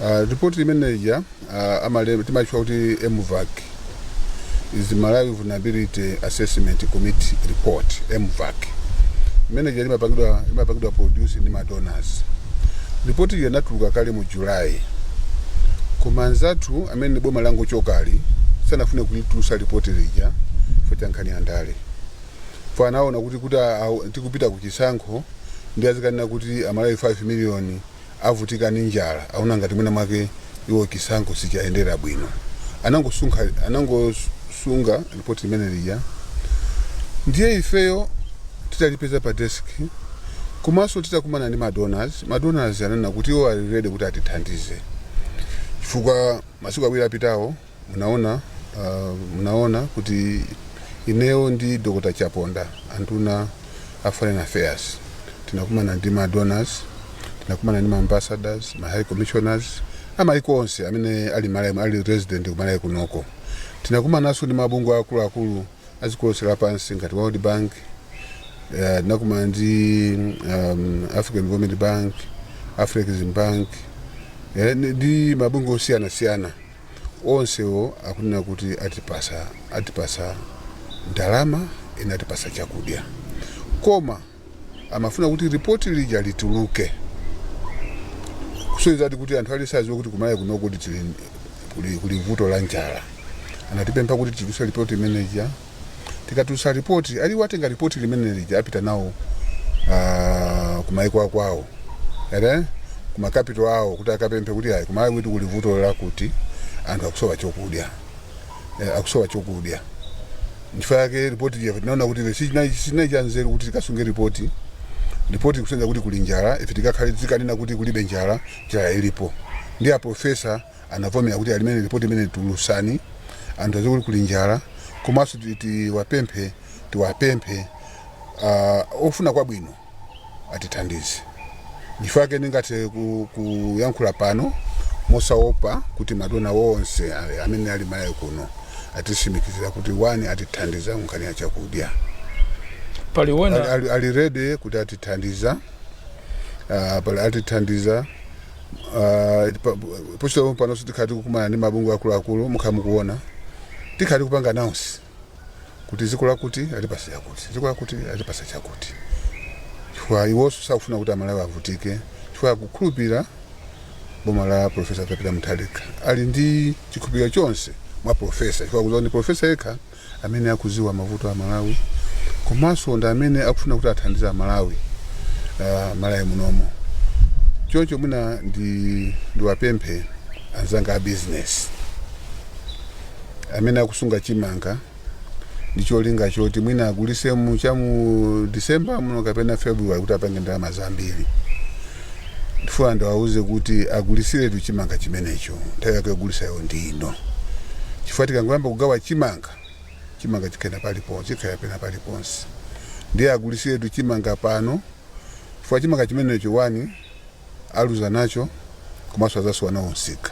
Uh, ripoti limene lija uh, amale- timalitchula kuti mvac is malawi vulnerability assessment committee report mvac imene lija limapangidwa limapangidwa produce ndi madonors ripoti lija linatuluka kale mu july koma anzathu amene boma langochokali sanafune kulitulusa ripoti lija chifukwa cha nkhani ya ndale chifukwa anaona kuti kuti awo- tikupita ku chisankho ndiye azikanena kuti amalawi 5 miliyoni avutika ndi njala aona ngati mwina mwake iwo chisankho sichiwayendera bwino anangosunga anangosunga ripoti limene lija ndiye ifeyo titalipeza pa desk komanso titakumana ndi madonors madonors ananena kuti iwo ali ready kuti atithandize chifukwa masiku awiri apitawo Munaona, uh, munaona kuti ineo ndi Dr. Chaponda anduna a foreign affairs tinakumana ndi ma donors, tinakumana ndi ma ambassadors, ma high commissioners amaiko onse amene ali Malawi ali resident ku Malawi kunoko. Tinakumananso ndi mabungwe akuluakulu a dziko lonse lapansi ngati World Bank, uh, tinakumana ndi um, African Development Bank, African Bank, eh, ndi mabungwe osiyanasiyana onsewo akunena kuti atipasa atipatsa ndalama ena atipasa chakudya koma amafuna kuti ripoti lija lituluke kusonyezadi kuti anthu aliyense adziwe kuti kumalawi kuno kuli tili- kuli kuli vuto la njala anatipempha kuti titulutse ripoti limene lija tikatulutsa ripoti ali iwo atenga ripoti limene lija apita nawo ah, kumaiko akwawo ere kuma capital awo kuti akapemphe kuti ayi kumalawi kuti kuli vuto lakuti anthu akusowa chokudya eh, akusowa chokudya nchifukwa yake ripoti lija tinaona kuti sichinali sichinali cha nzeru kuti tikasunge ripoti ripoti kusonyeza kuti kuli njala ife tikakhale tikanena kuti kulibe njala njala ilipo ndi aprofesa anavomera kuti ayi limene lipoti limene tulusani anthu adziwe kuti kuli njala komanso ti- tiwapemphe tiwapemphe ah, ofuna kwabwino atithandize nchifukwa chake ndingathe ku- kuyankhula pano mosaopa kuti madonor onse ali- amene ali malawi kuno atisimikizira kuti iwo atithandiza nkhani ya chakudya pali ali, ena ali, ali ready kuti atithandiza uh, pali atithandiza Uh, po- pochoka pano tikhala tikukumana ndi mabungwe akuluakulu mukhala mukuona tikhala tikupanga announce kuti dziko lakuti latipasa chakuti dziko lakuti latipasa chakuti chifukwa iwonso sakufuna kuti amalawi avutike chifukwa akukhulupirira boma la profesa a pita mutharika ali ndi chikhulupiriro chonse mwa profesa chifukwa akuziwa kuti profesa yekha amene akuziwa mavuto a Malawi komanso ndi amene akufuna kuti athandiza Malawi uh, Malawi munomo choncho mwina ndi ndiwapemphe anzanga a business amene akusunga chimanga ndi cholinga choti mwina agulise mu cha mu December muno kapena February kuti apange ndalama zambiri Ndifuna ndiwauze kuti agulitsiretu chimanga chimenecho. Nthawi yake yogulisayo ndi ino. Chifukwa tikangoyamba kugawa chimanga, chimanga chikhala paliponse, chikhala pena paliponse. Ndiye agulitsiretu chimanga pano chifukwa chimanga chimenecho wani aluza nacho komanso adzasowa nawo msika.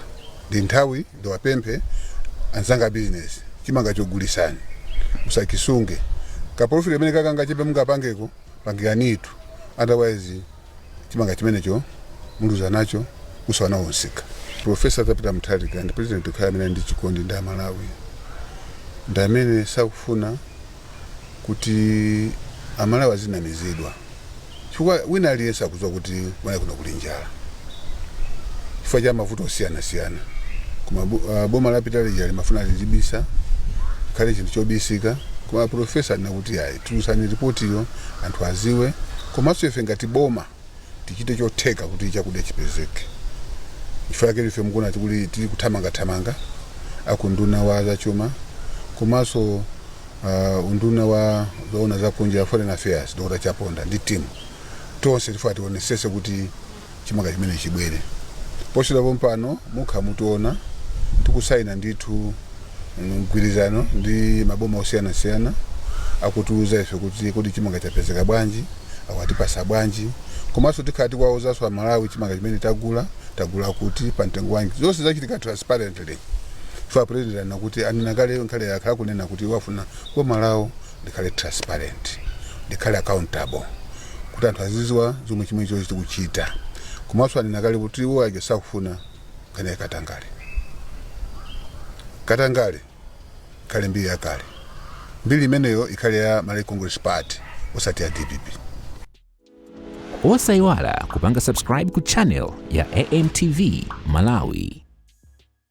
Ndi nthawi ndiwapemphe anzanga abizinesi, chimangacho gulitsani, musachisunge. Kapolofiti kamene kakangachepe mungapangeko, pangiranitu otherwise. chimanga chimenecho muluza nacho musowa nawo msika profesa peter mutharika ndi president yekha amene ali ndi chikondi ndi amalawi ndi amene sakufuna kuti amalawi azinamizidwa chifukwa wina aliyense akudziwa kuti kumalawi kuno kuli njala chifukwa cha mavuto osiyanasiyana koma bo- ah, boma lapita lija limafuna lizibisa ikhale chinthu chobisika koma profesa anena kuti ayi Tulutsani ripotiyo anthu aziwe komanso ife ngati boma tichite chotheka kuti chakudya chipezeke nchifukwa chake ife mukuona tili kuthamangathamanga akunduna wa zachuma komanso uh, unduna wa zoona zakunja foreign affairs dr chaponda ndi timu tonse tifuna tionesese kuti chimanga chimenechi chibwere posachedwa pompano mukhala mukutiona tikusaina ndithu mgwirizano ndi maboma osiyanasiyana akutiuza ife kuti kodi chimanga chapezeka bwanji awatipasa bwanji komanso tikhala tikuwauzanso amalawi chimanga chimene tagula tagula kuti pa mtengo wanji zonse zachitika transparently chifukwa president anena kuti anena kale nkale akhala akunena kuti akufuna boma lawo likhale transparent, likhale accountable kuti anthu aziziwa zomwe chimene chonse likuchita komanso anena kale kuti iwo aja sakufuna nkhani ya katangale katangale ikhale mbiri yakale mbiri imeneyo ikhale ya malawi congress party osati ya dpp osayiwala kupanga subscribe ku channel ya amtv malawi